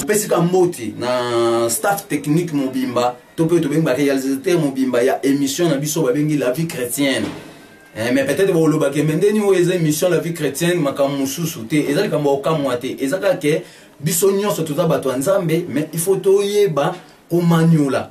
topesi ka mbote na staff technique mobimba to mpe tobengi ba réalisateur mobimba ya émission na biso babengi la vie chrétienne Eh, mais peut-être bolobaki me ndeni oyo eza émission la vie chrétienne makambo mosusu te eza likambo ya kokamwa te eza kaka ke biso nyonso toza bato ya nzambe mais il faut toyeba komaniola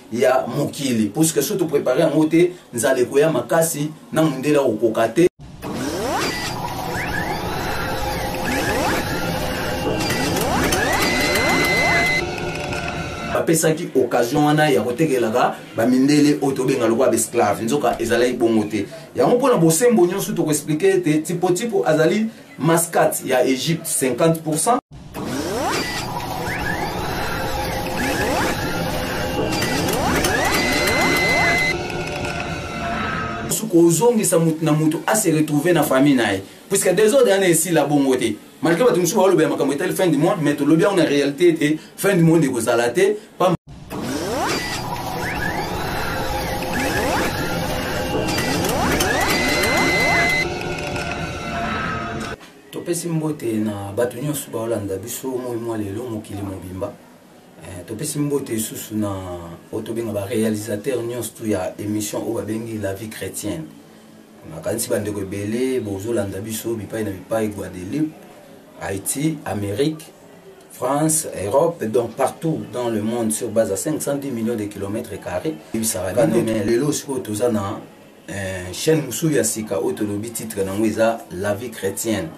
ya mokili puisque soki toprepare yango te nzala ekoya makasi na mondele akokoka te bapesaki occasion wana ya kotekelaka bamindele oyo tobenga lokola baesclave nzoka ezalaki bongo te yango mpona bosembo nyonso tokoexplike ete tipotipo azali Mascate ya Egypte 50%. kozongisa moto na moto ase retrouve na famille na ye puisque desordre wana esila bongo te malgré bato mosusu baolobela makambo etali fin du monde mais tolobi yango na réalité ete fin du monde ekozala te topesi mbote na bato nyonso baolanda biso moi mwa lelo mokili mobimba eh, topesi mbote lisusu na oyo tobenga barealisateur nyonso tu ya émission oyo babengi la vie chrétienne nakanisi bandeko ebele bozolanda biso bipai na bipai guadeloupe haïti amérique France, Europe, donc partout dans le monde sur base à 510 millions de kilomètres carrés. Lelo sikoyo toza na euh, chaîne mosusu ya sika oyo tolobi titre nango eza la vie chrétienne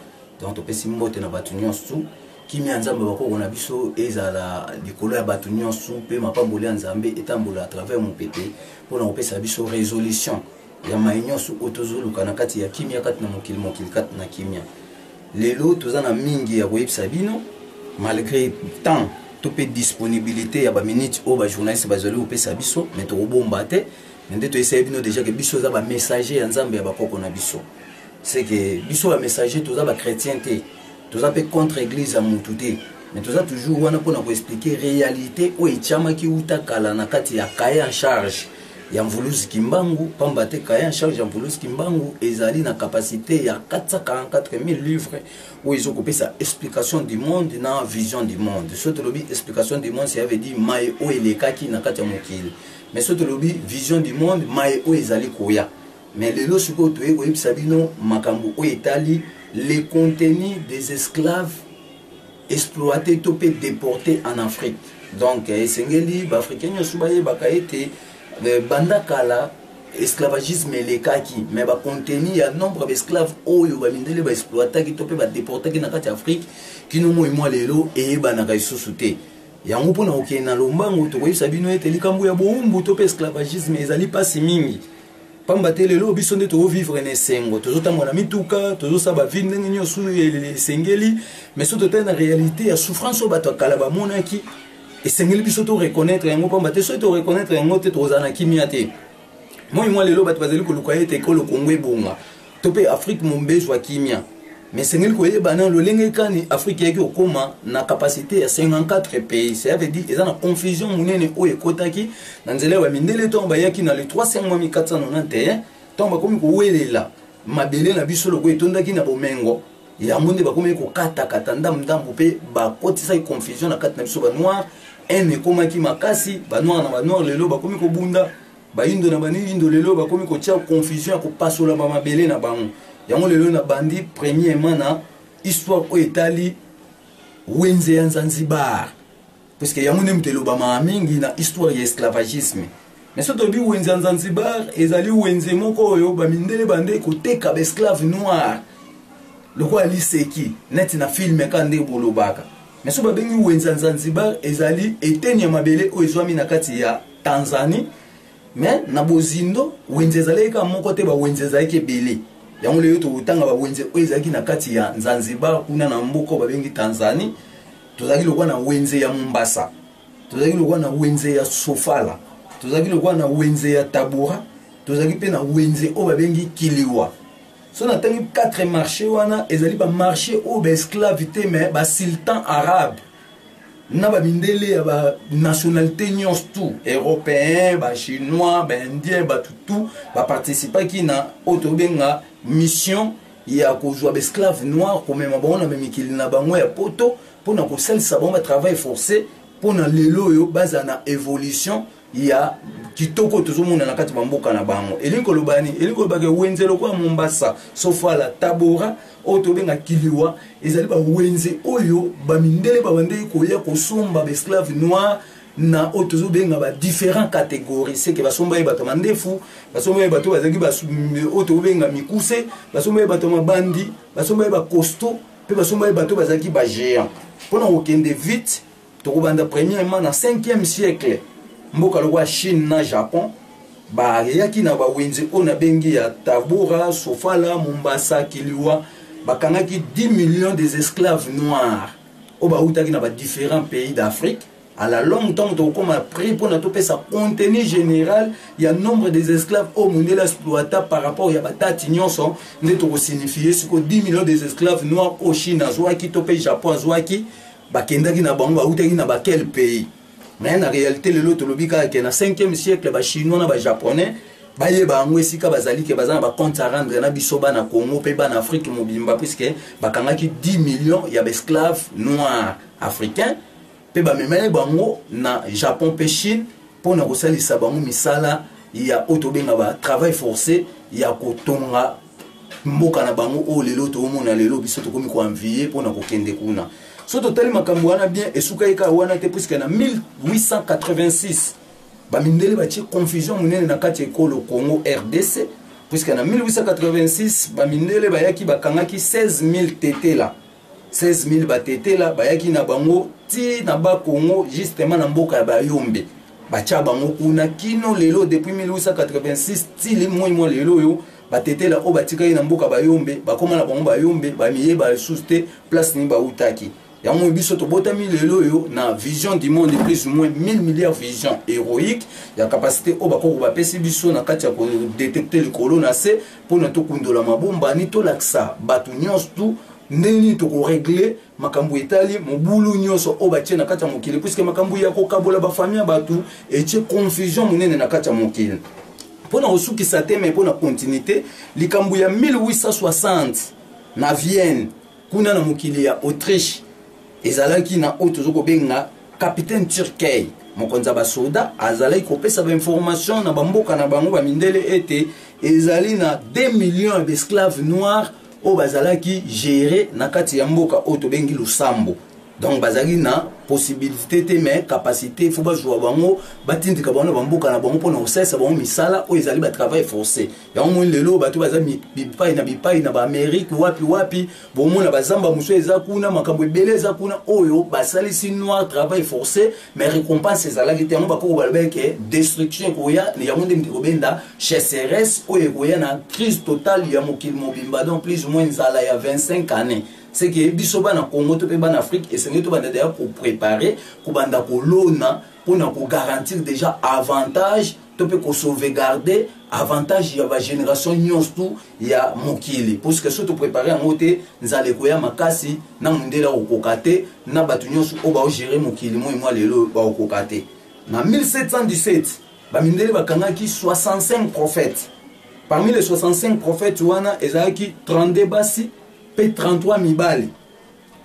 donc topesi mbote na bato nyonso kimia ya nzambe bakoko na biso ezala likolo ya bato nyonso mpe mapamboli ya nzambe etambola à travers mopepe mpo na kopesa biso résolution ya maye nyonso oyo tozoluka na kati ya kimia kati na mokili mokili kati na kimia lelo toza na mingi ya koyebisa bino malgré temps to mpe disponibilité ya baminute oyo bajournaliste bazali kopesa biso me tokobomba te me nde toyesai bino déjà ke biso eza bamessager ya nzambe ya bakoko na biso seke biso bamessager toza bachrétien te toza mpe contre eglise ya mutu te mais toza toujours wana mpona koexplike réalité oyo etiamaki uta kala na kati ya kaye en charge ya mvuluzi kimbangu mpamba te kaye en charge ya mvuluzi kimbangu ezali na capacité ya 444000 livre oyo ezokopesa explication du monde na vision du monde so tolobi explication du monde cela veut dire maye oyo elekaki na kati ya mokili mais so tolobi vision du monde maye oyo ezali koya Mais lelo sikoyo toye koyebisa bino makambo oyo etali les contenus des esclaves exploités to mpe deportés en Afrique. Donc eh, esengeli baafricain nyonso bayebaka ete eh, banda kala esclavagisme elekaki me bacontenu ya nombre baesclave oyo bamindele baexploitaki to mpe badeportaki na kati ya afrike kino moi mwa lelo eyebanaka lisusu te yango mpo na kokende na lombango tokoyebisa bino ete likambo ya bowumbu to mpe esclavagisme ezali mpasi mingi pamba te lelo biso nde tozovivre na esengo tozotambola na mituka tozosala bavie ndenge nyonso esengeli mais so totali na réalité ya souffrance oyo bato ya kala bamonaki esengeli biso to reconnaître yango pamba te soki to reconnaître yango te tokozala na kimia te moi mwa lelo bato bazali koluka ete ekolo kongo ebonga to mpe afrique mombe ezwa kimia mais esengeli koyeba na lolenge kani afrique eyaki kokóma na capacité ya 54 pays cela veut dire eza na confusion monene oyo ekotaki na nzela ya bamindele ntango bayaki na le 3 sengwa 1491 ntango bakomi kowelela mabele na biso lokola etondaki na bomengo yango nde bakomaki kokatakata ndambu ndambu mpe bakotisaki confusion na kati na biso banoir haine ekomaki makasi banoir na banoir lelo bakomi kobunda bayindo na baniyindo lelo bakomi kotia confusion ya kopasola bamabele na bango yango lelo nabandi premièrement na histoire oyo etali wenze ya nzanzibar puiske yango nde moto elobamaka mingi na histoire ya esclavagisme mais soki tolobi wenze ya nzanzibar ezali wenze moko oyo bamindele bande koteka baesclave noir lokola liseki neti na filme ka nde bolobaka mais soki babengi wenze ya nzanzibar ezali eteni ya mabele oyo ezwami na kati ya tanzanie mais na bozindo wenze ezalaki kaka moko te bawenze ezalaki ebele yango lelo tokotanga bawenze oyo ezalaki na kati ya zanzibar kuna na mboka oyo babengi tanzanie tozalaki lokola na wenze ya mombasa tozalaki lokola na wenze ya sofala tozalaki lokola na wenze ya tabora tozalaki mpe na wenze oyo babengi kiliwa so natangi 4 marché wana ezali bamarché oyo baesclave te mais basultan arabe na bamindele ya banationalité nyonso tout européen bachinois baindien bato tout baparticipaki na oyo tobenga mission ya kozwa baesclave noir komema bango na bamikili na bango ya poto mpo na kosalisa bango batravail forcé mpo na lelo oyo bazala na évolution ya kitoko oyo tozomona na kati bamboka na bango elingi koloba nini elingi koloba ke wenze lokola mombasa sofala tabora oyo tobenga kiliwa ezali bawenze oyo bamindele babandeki koya kosomba baesclave noir na oyo tozobenga badifférent catégorie seke basomba ye bato ya mandefu basomba ye bato bazalaki oyo tokobenga mikuse basomba ye bato ya mabandi basomba ye bacosto mpe basomba ye bato bazalaki bagéant mpo na kokende vite tokobanda premièrement na 5e siècle mboka lokola chine na japon bayaki na bawenze oyo nabengi ya tabora sofala mombasa kiliwa bakangaki 10 millions des esclaves noirs oyo bautaki na badifférents pays d'afrique à la longue ntango tokokoma prix mpo na topesa contenu général ya nombre des esclaves oyo mondele exploita par rapport ya batati nyonso nde tokosignifie siko 10 millions des esclaves noirs oyo chine azwaki to mpe japon azwaki bakendaki na bango bautaki na baquel pays mais na réalité lelo tolobi kaka ke na 5e siècle bachinois na bajaponais bayeba yango esika bazali ke baza na bacompte à rendre na biso bana congo mpe bana afrique mobimba puiske bakangaki 10 millions ya baesclave noir africain mpe bamemeli bango na japon mpe chine mpo na kosalisa bango misala ya oyo tobenga ba travail forcé ya kotonga mboka na bango oyo lelo toomona lelo biso tokomi koanviye mpo na kokende kuna so totali makambo wana bien esukaki kaka wana te puiske na 1886 bamindele batie confusion monene na kati ya ekolo congo rdc puiske na 1886 bamindele bayaki bakangaki 16000 tetela 16000 batetela bayaki na bango ti na ba Congo justement na mboka ya bayombe batya bango kuna kino lelo depuis 1886 ti limoi mwa lelo oyo batetela oyo batikaki na mboka bayombe bakoma na bango bayombe bamiyeba lisusu te place nini bautaki yango biso tobotami lelo oyo na vision du monde plus ou moins 1000 milliards vision héroïque ya capacité oyo bakoko bapesi biso na kati ya kodetecte likolo na se mpo na tokundola mabombani tolakisa bato nyonso tu ndenge nini tokoregle makambo etali mobulu nyonso oyo batie na kati ya mokili puiske makambo ya kokabola bafami ya bato etie confusion monene na kati ya mokili mpo na kosukisa te mai mpo na continuité likambo ya 1860 na vienne kuna na mokili ya autriche ezalaki na oyo tozo kobenga capitaine turkey mokonzi ya basoda azalaki kopesa bainformation na bamboka na bango bamindele ete ezali na 2 millions ya baesclave noir oyo bazalaki gere na kati ya mboka oyo tobengi losambo donc bazali na possibilité te mais capacité fo bazwa bango batindika bango na bamboka na bango mpona kosalisa bango misala oyo ezali batravail forcé yango moni lelo bato baza bipai na bipai na baamerike wapi wapi bomona bazamba mosusu eza kuna makambo ebele eza kuna oyo basalisi noir travail forcé mais récompense ezalaki te yango bakoko balobaki ke destruction ekoya yango nde mikobenda chasseresse oyo ekoya na crise totale ya mokili mobimba donc plus ou moins nzala ya 25 année c'est que biso bana congo to mpe bana afrique esengeli tobanda deya koprépare kobanda kolona mpo na kogarantir déjà avantage to mpe kosauvegarde avantage ya bagénération nyonso tu ya mokili puiske so toprépare yango te nzala ekoya makasi na mondele akokoka te na bato nyonso oyo baogere mokili moi mwa lelo bakokoka te na 1717 bamindele bakangaki 65 prophètes parmi les 65 prophètes wana ezalaki 32 basi mpe 33 mibali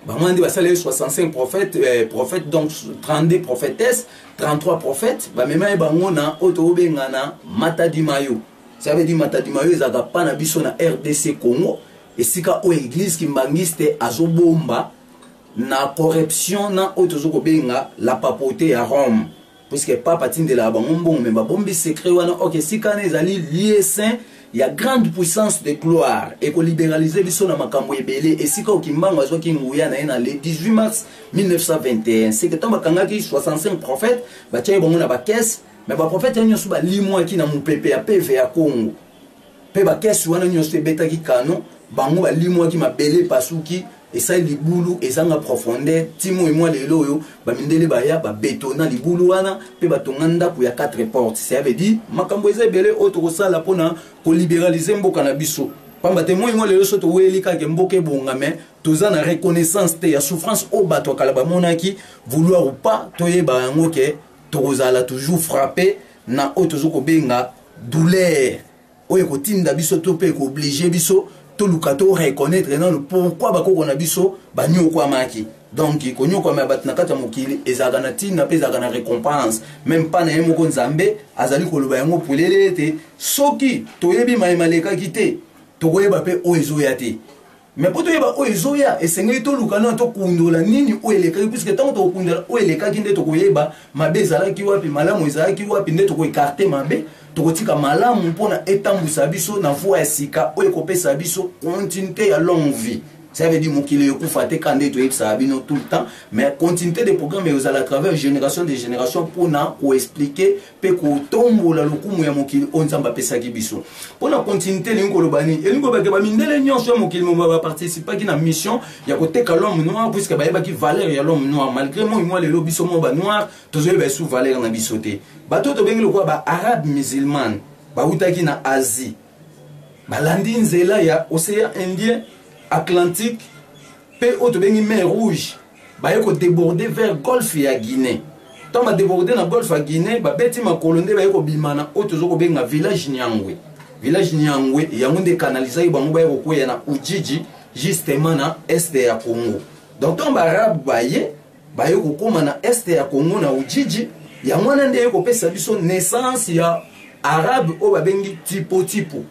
bango wana nde basaleli 65 prophète eh, prophète donc 32 prophétesse 33 prophète bamema ye bango na oyo tokobenga na matadimayo ça veut dire matadimayo ezalaka pa na biso na rdc congo esika oyo église kimbangiste azobomba na corruption na oyo tozokobenga la papote ya rome puisque papa atindelaka bango mbongo me babombi secret wana ok esika wana ezali lieu saint ya grande puissance de gloire ekoliberalize biso na makambo ebele esika okimbango azwaki nguya na ye na le 18 mars 1921 seke ntango bakangaki 65 prophète batyaki bango na bakese me baprofete yango nyonso balimwaki na mopepe ya peve ya congo mpe bakesi wana nyonso ebetaki kano bango balimwaki mabele epasuki esali libulu ezanga profondeur ti moi mwa lelo oyo bamindele baya babetona libulu wana mpe batonga ndako ya 4 porte ça veut dire makambo eza ebele oyo tokosala mpona koliberalize mboka na biso pamba te moi mwa lelo so toweli kaka mboka ebonga mai toza na reconnaissance te ya souffrance oyo bato ya kala bamonaki vouloir ou pas toyeba yango ke tokozala toujours frappe na oyo tozo kobenga douleur oyo ekotinda biso to mpe ekooblige biso toluka to reconnaître nano pourquoi bakoko na biso banyokwamaki donc konyokwama ya bato na kati ya mokili ezalaka na ntina mpe ezalaka na récompense meme mpa na ye moko nzambe azali koloba yango polele ete soki toyebi mai malekaki te tokoyeba mpe oyo ezoya te me mpo toyeba oyo ezoya esengeli toluka nano tokundola nini oyo elekaki puiske ntango tokokundola oyo elekaki nde tokoyeba mabe ezalaki wapi malamu ezalaki wapi nde tokoekarte mabe tokotika malamu mpo na etambwisa biso na voi ya sika oyo ekopesa biso continuité ya longue vie ça veut dire mokili ekufa te ka nde toyebisaka bino tout le temps mais continuité de programme ekozala à travers génération de génération mpo na koexplike mpe kotombola lokumu ya mokili oyo nzambe apesaki biso mpo na continuité elingi koloba nini elingi koloba ke bamindele nyonso ya mokili moma baparticipaki na mission ya koteka l'homme noir puiske bayebaki valeur ya l'homme noir malgré moi mwa lelo biso mwa banoir tozoyeba esu valeur na biso te bato oyo tobengi lokola baarabe musulmane bautaki na asie balandi nzela ya océan indien atlantique mpe oyo tobengi mer rouge baye ko deborde vers golfe ya guinée ntango badeborde na golfe ya guinée babeti makolo nde baye kobima na oyo tozo kobenga village nyangwe village nyangwe yango nde kanalizaki bango baye kokweya na ujiji justement na este ya congo donc ntango baarabe baye baye kokóma na este ya congo na ujiji yango wana nde eye kopesa biso naissance ya arabe oyo babengi tipotipo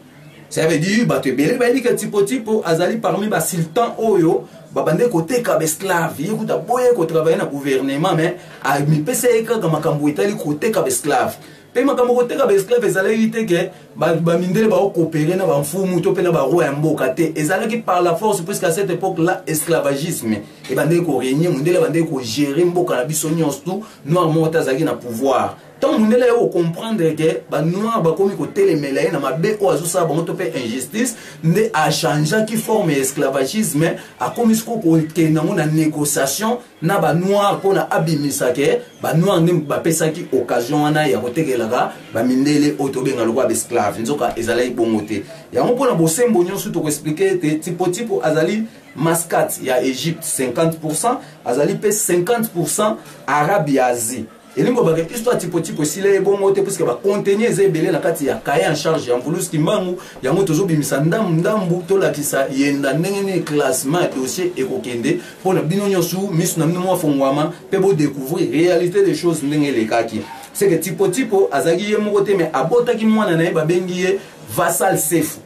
ça veut dire bato ebele bayebi ke tipo tipo azali parmi basultan oyo babande koteka baesclave ye kuta boye kotravaille na gouvernement mais amipesa ye kaka makambo etali koteka baesclave mpe makambo koteka baesclave ezalaki te ke bamindele baokopere na bamfumu to mpe na baroi ya mboka te ezalaki par la force puisque à cette époque là esclavagisme ebandeki koregne mondele abandeki kogere mboka na biso nyonso tu noir moko te azalaki na pouvoir ntango mundele aye kocomprendre ke banoir bakomi kotelemela ye na mabe oyo azosala bango to mpe injustice nde achangeaki forme ya esclavagisme akomi siko kokende yango na négociation na banoir mpona abimisa ke banoir nde bapesaki occasion wana ya kotekelaka bamindele oyo tobenga lokola baesclave nzoka ezalaki bongo te yango mpona bosembo nyonso tokoexplike ete tipotipo azali mascate ya egypte 50 azali mpe 50 arabe ya asie elingi kobaka histoire tipotipo esila ye bongo te puiske bacontenu eza ebele na kati ya kaye en charge ya mvulus kimbangu yango tozobimisa ndambu ndambu tolakisa yenda ndenge nini classement ya dossier ekokende mpo na bino nyonso miso na bino mwafongwama mpe bodecouvrir réalité des choses ndenge elekaki seke tipotipo azalaki ye moko te me abotaki mwana na ye babengi ye vasal sefu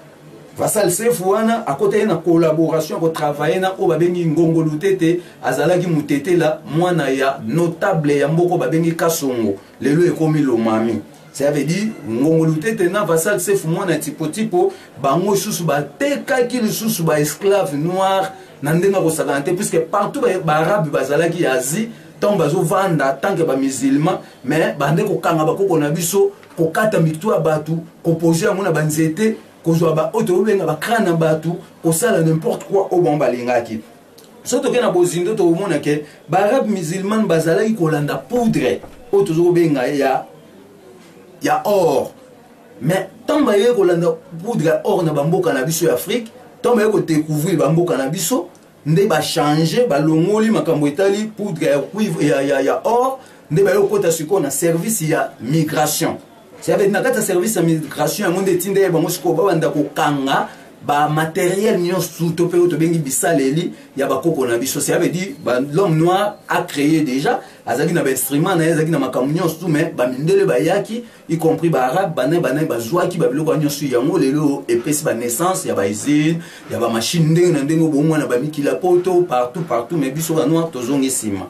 Vasal Sefu wana akotaki na collaboration ko travailler na oyo babengi Ngongo Lutete azalaki mutetela mwana ya notable ya mboko babengi Kasongo lelo ekomi Lomami ça veut dire Ngongo Lutete na Vasal Sefu mwana ya tipo tipo bango susu batekaki lisusu ba esclave noir na ndenge ya kosakana te puisque partout baarabe ba bazalaki ya Asie ntango bazovanda tanke bamusulman mais bande kokanga bakoko na biso kokata mitu ya bato kopose yango na banzete kozwa baoyo tokobenga bacrane na bato kosala n'importe quoi oyo bango balingaki soki tokei na bozindo tokomona ke baarabe musulmane bazalaki kolanda poudre oyo tozo kobenga ya ya or mais ntango bayei kolanda poudre ya or na bamboka na biso ya afrique ntango bayei kodecouvrir bamboka na biso nde ba changer ba longoli makambo etali poudre ya cuivre ya ya ya or nde ba yokota siko na service ya migration c'est avec na kata service ya migration yango nde tinda ye bango siko ba banda ko kanga ba matériel nionso to pe to bengi bisaleli ya ba koko na biso c'est avec dit ba l'homme noir a créé déjà azaki na ba instrument na ye azaki na makambo nionso mais ba mindele ba yaki y compris baarabe bana bana bazwaki babiloko wana nyonso yango lelo epesi banaissance ya bausine ya bamashine ndenge na ndenge obongo mwana bamikila poto partout partout mais biso banoir tozongi nsima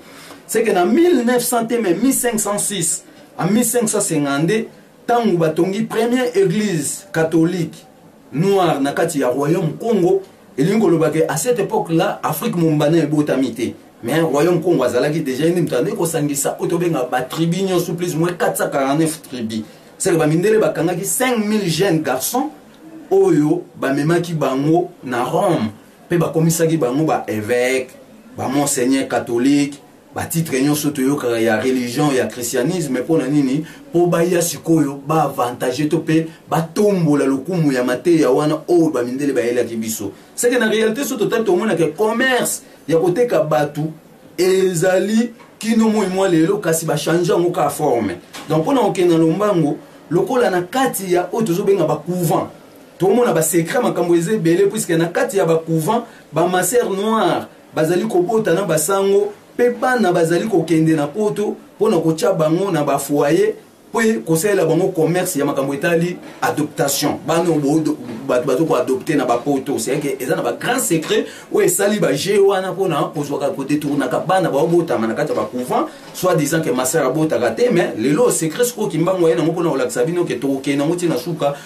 seke na 1900 te mai 1506 a 1552 ntango batongi première église catholique noire na kati ya royaume congo elingi koloba ke à cette époque là afrique mombana ebotami te mais royaume congo azalaki déjà ye nde moto andeki kosangisa oyo tobenga batribu nyonso plus moins 449 tribu seke bamindele bakangaki 5000 jeunes garçons oyo bamemaki bango na rome mpe bakomisaki bango baevêque bamonseigneur catholique ba titre nyonso toyokaka ya religion ya christianisme mpo na nini mpo baya sikoyo baavantage to mpe batombola lokumu ya mateya wana oyo bamindele bayelaki biso seke na réalité so totali tomonaka commerce ya koteka bato ezali kino moi mwa lelo kasi bachange yango ka forme donc mpo na kokenda lombango lokola na kati ya oyo tozobenga bacouvent tokomona basecret makambo eza ebele puiske na kati ya bacouvent bamaser noire bazali kobota na basango mpe bana bazali kokende na poto mpo na kotya bango na bafoye mpe kosalela bango commerce ya makambo etali adoptation bana bato bazo koadopte na bapoto seke eza na bagrand secret oyo esali baje wana mpona kozwaka kodetournaka bana baobotama na kati ya bacouvent soit disant ke masere abotaka te mais lelo secret sikoyo kimbangu aye nango mpona kolakisa bino ke tokokende yango ntina suka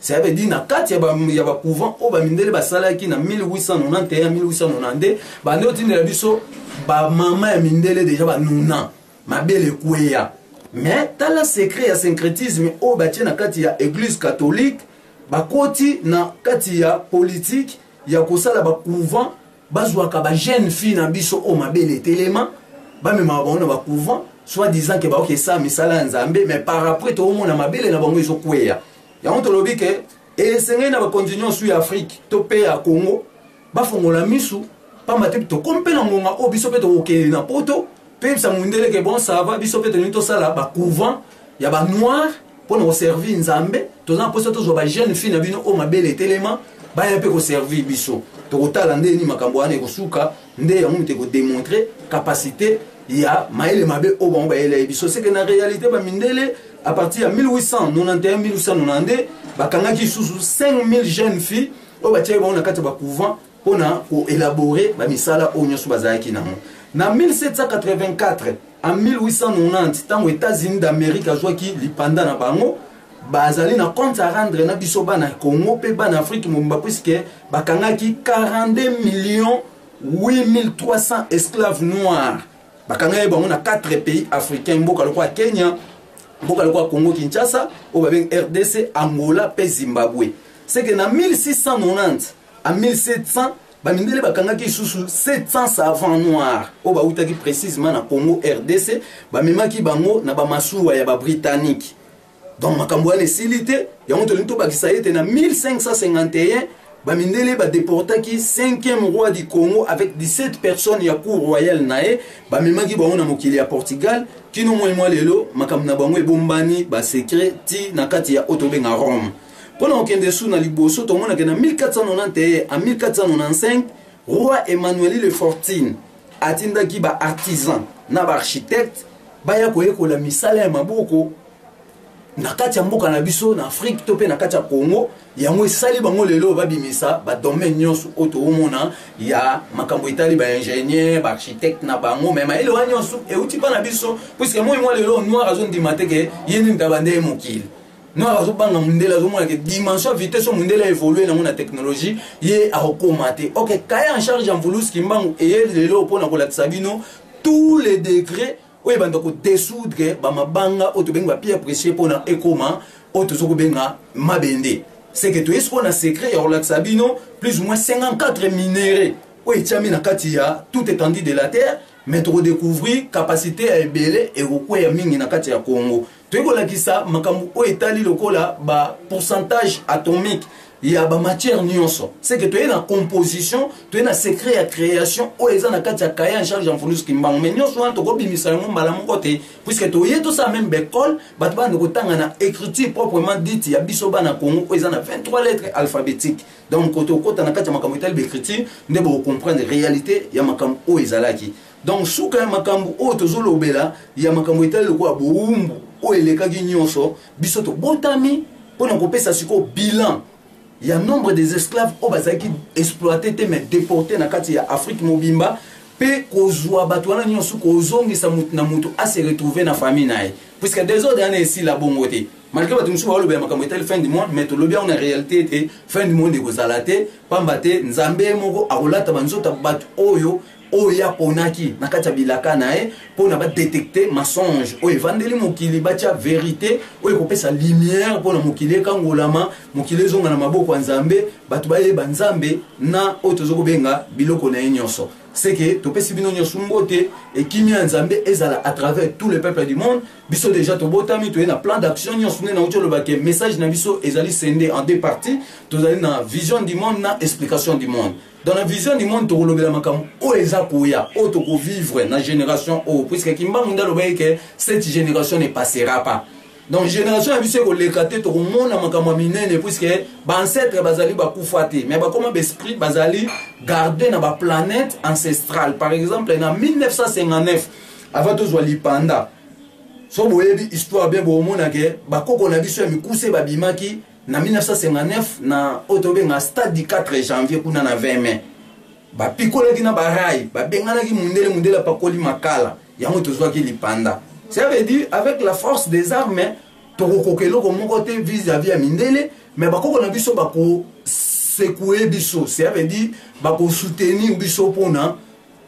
cela veut dire na kati ya bacouvent oyo bamindele basalaki na 1891-1892 bande otindela biso bamama ya mindele deja banuna mabele ekweya mais tala secret ya syncrétisme oyo batie na kati ya église catholique bakoti na kati ya politike ya kosala bacouvent bazwaka bajeune fille na biso oyo mabele etelema bamemaka bango na bacouvent soit disant ke baoki esala misala ya nzambe mais par après toomona mabele na bango ezokweya yango tolobi ke esengeli na bakonzi nyonso ya afrike to mpe ya congo bafongola misu pamba te tokomi mpe na ngonga oyo biso mpe tokokende na poto toyebisa mondele ke bon sava biso mpe tolingi tosala bacouvent ya banoire mpo na koservir nzambe toza na mposa tozwa bajeune fille na bino oyo mabele etelema baya mpe koservir biso tokotala ndeni makambo wana ekosuka nde yango moto ekodemontre capacité ya mayele mabe oyo bango bayelai biso seke na réalité bamindele à partir ya 1891 1892 bakangaki lisusu 5000 jeunes filles oyo batiaki bango na kati ya bacouvent mpo na koélabore bamisala oyo nyonso bazalaki nango na 1784 en 1890 ntango états-unis d'amérique azwaki lipanda na bango bazali na compte à rendre na biso bana ya congo mpe bana afrique mobimba puiske bakangaki 42 millions 8300 esclaves noirs bakangaki bango na 4 pays africain mboka lokola kenya mboka lokola congo kinshasa oyo babengi rdc angola mpe zimbabwe seke na 1690 a 1700 bamindele bakangaki lisusu 700 savant noir oyo bautaki précisement na congo rdc bamemaki bango na bamasuwa ya babritannique donc makambo wana esili te yango tolingi tobakisa ete na 1551 bamindele badeportaki 5e roi du congo avec 17 personnes ya cour royale na ye bamemaki bango na mokili ya portugal kino moi mwa lelo makambo na bango ebombani basecret ti na kati ya oyo tobenga rome mpo na kokende su na liboso tomonake na 1491 a 1495 roi emmanueli le fortune atindaki baartisan na baarchitecte baya koyekola misala ya maboko na kati ya mboka na biso na afrike to mpe na kati ya congo yango esali bango lelo babimisa badomaine nyonso oyo toomona ya makambo etali baingénieur baarchitecte na bango me mayele wana nyonso euti mpa na biso puiske moi mwa lelo noir azondima te ke ye nini taba nde ye mokili noir azobanga mondele azomona ke dimension vitesse mondele aévolue nango na technologie ye akokoma te ok kaya en charge ya mvuluski mbangu eye lelo mpo na kolakisa bino tous les degrés oyo ebanda kodesoudre bamabanga oyo tobengi bapierre precie mpona ekoma oyo toza kobenga mabende seke toyei sikoyo na secret ya kolakisa bino plus ou moins 54 minere oyo etiami na kati ya tout étendue de la terre mais tokodécouvrir capacité ya ebele ekokweya mingi na kati ya congo toyei kolakisa makambo oyo etali lokola ba pourcentage atomique ya bamatière nyonso seke toye na composition toye na secret ya création oyo eza na kati ya kaye en charge ya mfundus kimbangu mai nyonso wana tokobimisa yango mbala moko te puiske toye tosala meme baekole bato bana kotanga na écriture proprement dite ya biso bana congo oyo eza na 23 lettres alphabétique donc kote okota na kati ya makambo etali baécriture nde bokocomprendre réalité ya makambo oyo ezalaki donc suka ya makambo oyo tozolobela ya makambo etali lokola bowumbu oyo elekaki nyonso biso tobotami mpo na kopesa sikoyo bilan ya nombre des esclaves oyo bazalaki exploite te mais deporte na kati ya afrique mobimba mpe kozwa bato wana nyonso kozongisa motu na motu ase retrouve na famille na ye puisque desordre wana esila bongo te malgré bato mosusu baolobela makambo etali fin du monde mais tolobi yango na réalité ete fin du monde ekozala te mpamba te nzambe ye moko akolata banzoto ya bato oyo oyo ye aponaki na kati ya bilaka na ye mpo na badetekte mensonge oyo evandeli mokili batya verite oyo ekopesa lumière mpo na mokili ekangolama mokili ezonga na maboko ya nzambe bato bayeba nzambe na oyo toza kobenga biloko na ye nyonso seke topesi bino nyonso mbote ekimia ya nzambe ezala à travers tout le peuple du monde biso déjà tobotami toye na plan d'action nyonso nde nauti oloba ke message na biso ezali sende en deux parties tozali na vision du monde na explication du monde dans la vision du monde tokolobela makambo oyo eza koya oyo tokovivre na génération oyo puisque kimbangu nde alobaki ke cette génération ne passera pas donc génération ya biso ekoleka te tokomona makambo ya minene puisque baancetre bazali bakufa te mais bakoma baesprit bazali garde na baplanète ancestrale par exemple na 1959 avant tozwa lipanda so boyebi histoire bien bokomonake bakoko na biso ya mikuse babimaki na 1959 na oyo tobenga stade du 4 janvier kuna na 20 mai bapikolaki na barai babenganaki mundele mundele apakoli makala yango tozwaki lipanda ça veut dire avec la force des armes tokokoka eloko moko te vis-à-vis ya mindele mais bakoko na biso bakosekue biso ça veut dire bakosoutenir biso mpona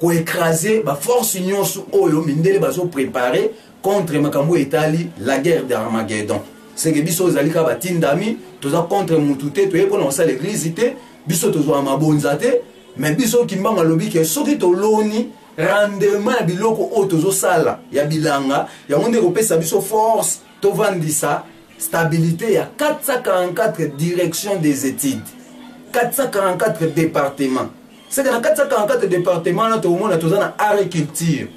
ko ecraser ba force nyonso oyo mindele bazo preparer contre makambo etali la guerre d'Armageddon seke biso ezali kaka batindami toza contre mutu te toye mpona kosala eglise te biso tozwa mabonza te me biso kimbangu alobi ke soki toloni rendement ya biloko oyo tozosala ya bilanga yango nde ekopesa biso force tovandisa stabilité ya 444 direction des études 444 départements seke na 444 departement wana tokomona toza na agriculture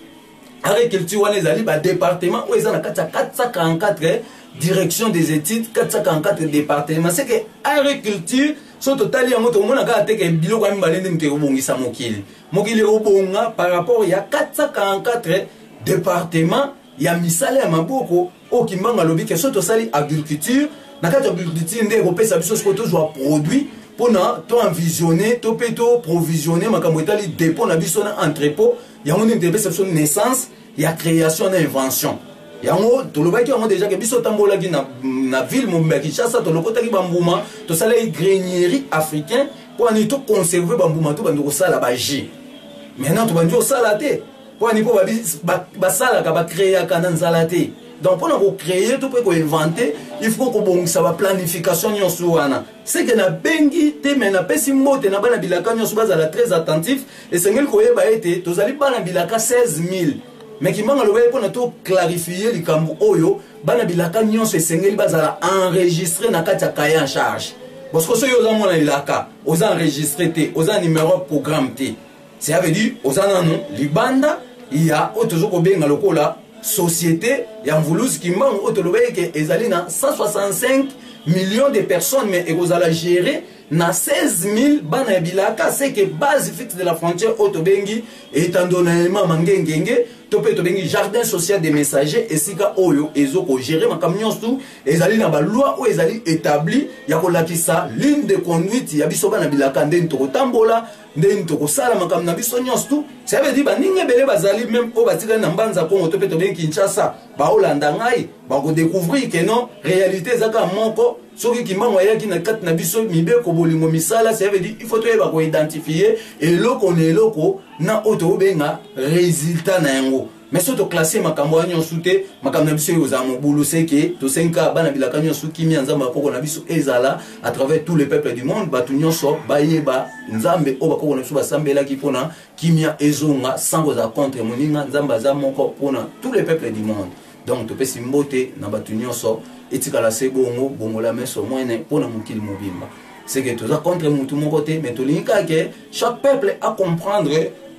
agriculture wana ezali badepartement oyo eza na kati ya 444 direction des études 444 département c'est que agriculture so totali yango tokomona kaka te ke biloko ya mibale nde moto ekobongisa mokili mokili ekobonga par rapport ya 444 département ya misala ya maboko oyo kimbangu alobi ke soki tosali agriculture na kati ya agriculture nde ekopesa biso sikoyo tozwa produit mpona toenvisionne to mpe toprovisionne makambo etali dépôt na biso na entrepôt yango nini tepesa biso naissance ya création na invention yango tolobaki yango déjà ke biso tambolaki na, na ville mobimba ya kinshasa tolokotaki bambuma tosalaki grainierie africain mpo ani toconserve bambuma tobandi kosala baji maintenant tobandi kosala te pwani mpo basalaka bakreaka na nzala te donc mpona kocreye to mpe koinvente il faut kobongisa baplanification nyonso wana seke nabengi te me napesi mbote na bana bilaka nyonso bazala très attentif esengeli koyeba ete tozali bana bilaka 16000 me kimanga lobeli mpona toclarifie likambo oyo bana bilaka nyonso esengeli bazala enregistre na kati ya kaye en charge parce que soki oza mwana elaka oza enregistre te oza numero programme te cela veut dire oza nanu libanda ya oyo tozo kobenga lokola société ya mvuluzi kimbangu oyo tolobaki ke ezali na 165 millions de personnes mais ekozala géré na 16000 bana ya bilaka seke base fixe de la frontière oyo tobengi etando na emama ngengenge to mpe tobengi jardin social des messagers esika oyo ezo kogere makambo nyonso tu ezali na baloi oyo ezali établi ya kolakisa ligne de conduite ya biso bana bilaka ndeni tokotambola nde nini tokosala makambo na biso nyonso tu ça veut dire baninga ebele bazali meme oyo batikali na mbanza kongo to mpe tobengi kinshasa baolanda ngai bakodécouvrir ke non réalité eza kaka moko soki kimbangu ayaki na kati na biso mibeko bolingo misala ça veut dire il faut toyeba koidentifie eloko na eloko na oyo tokobenga résultat na yango mais so toklasse makambo wana nyonso te makambo na biso oyo ozala mobulu seke tosengi kaka bana bilaka nyonso kimia nzambe bakoko na biso ezala à travers tous les peuples du monde bato nyonso bayeba nzambe oyo bakoko na biso basambelaki mpona kimia ezonga sans kozala contre moninga nzambe aza moko mpona tous les peuples du monde donc topesi mbote na bato nyonso etikala se bongo bongola meso mwene mpona mokili mobimba c'est que toza contre mutu moko te mais tolingi kaka ke chaque peuple a comprendre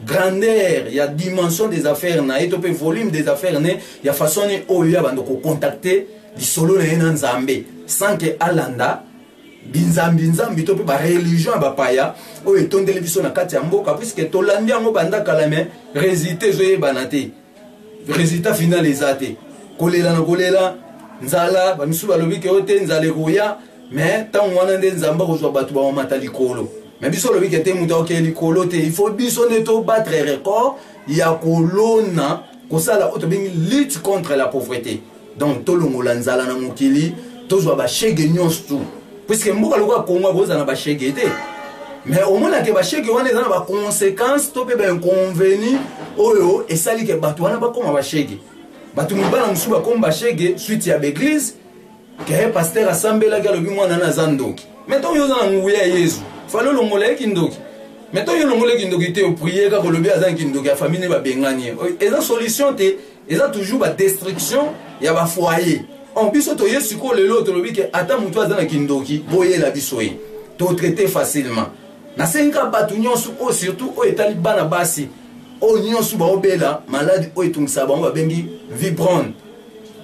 grandeur ya dimension des affaires na ye to mpe volume des affaires ne ya façon ni oyo ya bando kocontacte lisolo na ye na nzambe sans ke alanda binzambinzambi to mpe bareligion ya bapaya oyo etondeli biso na kati ya mboka puiske tolandi yango banda kala me resultat ezoyebana te resultat final eza te kolela na kolela nzala bamisusu balobi ke yo te nzala ekoya mais ntango wana nde nzambe akozwa bato bamamata likolo mais biso olobi ke te moto akokee likolo te il faut biso nde tobatre record ya kolona kosala oyo tobengi lutte contre la pauvreté donc tolongola nzala na mokili tozwa bashege nyonso tu puiske mboka lokola kongo akozala na bashege te mais omonake bashege wana eza na baconséquence to mpe bainconveni oyo esali ke bato wana bakóma bashege bato mibala mosusu bakómi bashege suite ya baeglise ke paster asambelaki alobi mwana na aza ndoki mai ntango yo oza na nguya ya yezu fali olongola ye kindoki mai ntango yo olongolaki ndoki te opriye kaka olobi aza na kindoki ya famille ne babengani ye eza solution te eza toujours ba destruction ya ba foyer en biso toye sikoyo lelo tolobi ke ata motu aza na kindoki boyela biso ye totraite facilement nasengi kaka bato nyonso oyo surtout oyo etali bana basi oyo nyonso baobela maladi oyo etungisaka bango babengi vibrone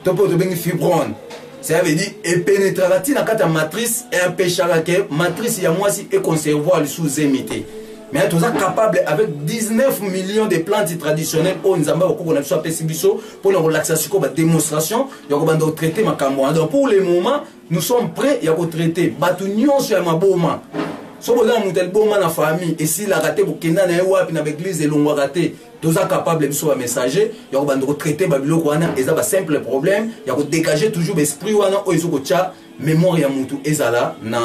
to mpe oyo tobengi fibrone cela veut dire epenetraka ntina kati ya matrice empeshaka ke matrice ya mwasi econservoir lisusu zemi te mais toza capable avec 19 millions de plantes traditionnelles oyo nzambe akokoko na biso apesi biso mpona kolakisa sikoyo badémonstration ya kobanda kotraite makambo wana donc pour le moment nous sommes prêts ya kotraite bato nyonso ya maboma soki oza na moto ya liboma na famille esilaka te kokenda na ye wapi na baeglize elongwaka te toza capable biso bamessager ya kobanda kotraite babiloko wana eza basimple problème ya kodégage toujours baesprit wana oyo ezokotya mémoire ya motu ezala na,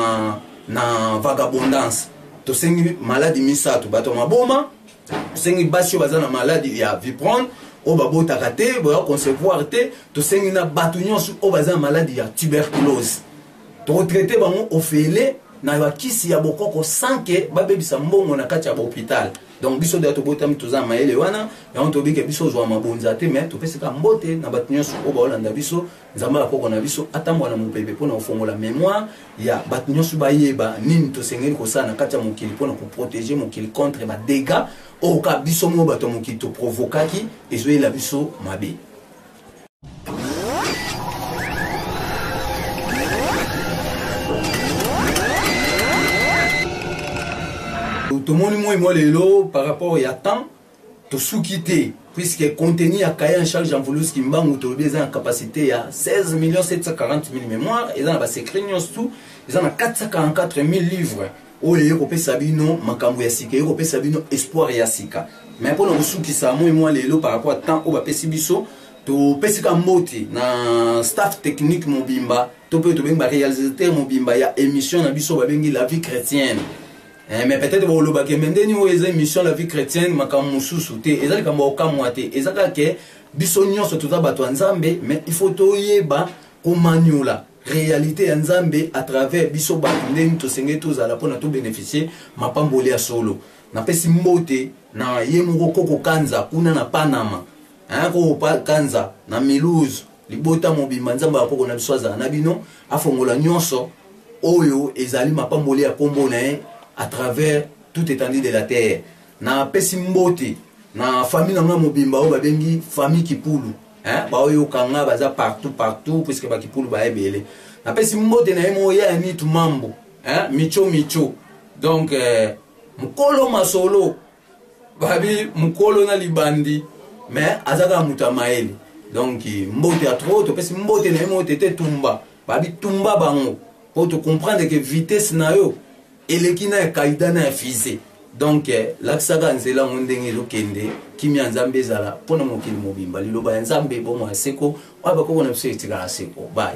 na vagabondance tosengi maladi misato bato ya maboma tosengi basi oyo baza na maladi ya viprone oyo babotaka te boya concevoir te tosengi na bato nyonso oyo baza na maladi ya tuberculose tokotraite bango ofele na bakisi ya bokoko sanke babebisa mbongo na kati ya bahôpital donc biso deya tobotami toza na mayele wana yango toyebi ke biso ozwa mabonza te mais topesaka mbote na bato nyonso oyo baolanda biso Nzambe ya koko na biso atambola na mopepe mpo na kofongola memoire ya bato nyonso bayeba nini tosengeli kosala na kati ya mokili mpo na koprotege mokili contre badega oyo kaka biso moko bato ya mokili toprovokaki ezoyela biso mabe tomoni moi moi lelo par rapport ya temps Tosuki te puisque contenu ya cahier en charge ya Mvulus Kimbangu tolobi eza na capacité ya 16 millions 740 000 mémoires, eza na ba secret nyonso tout, eza na 444 000 livres oyo eye kopesa bino makambo ya sika, eye kopesa bino espoir ya sika. Mais mpo na kosukisa moi mwa lelo par rapport à temps oyo bapesi biso, topesi ka mbote na staff technique mobimba to mpe tobengi ba réalisateur mobimba ya émission na biso babengi la vie chrétienne. Eh, mais peut-être boloba ke mais ndeni oyo eza émission la vie chrétienne makambo mosusu te eza likambo ya kokamwa te eza kaka ke biso nyonso toza bato ya nzambe mais il faut toyeba komaniola réalité ya nzambe à travers biso bato ndeni tosengeli tozala mpona tobénéficie mapamboli ya solo napesi mbote na ye moko koko kanza kuna na panama hein, koko kanza na milouse libota mobimba nzambe ya koko na biso azala na bino afongola nyonso oyo ezali mapamboli ya nkombo na ye à travers tout étendue de la terre napesi mbote na famille na ngai mobimba oyo babengi famille kipulu baoyo okanga baza partout partout puiske bakipulu baya ebele napesi mbote na ye moko ya nitu mambo micho micho donc eh, mokolo masolo babi mukolo na libandi mais aza kaka moto ya mayele donc mbote ya trop topesi mbote na ye moko te te tumba babi tumba bango mpo tocomprendre ke vitesse na yo eleki na ya kaida na ya fise donc eh, lakisaka nzela yango ndenge ezokende kimia nzambe ezala mpo na mokili mobimba liloba ya nzambe bomo ya seko oyo bakoko na biso etikala seko bai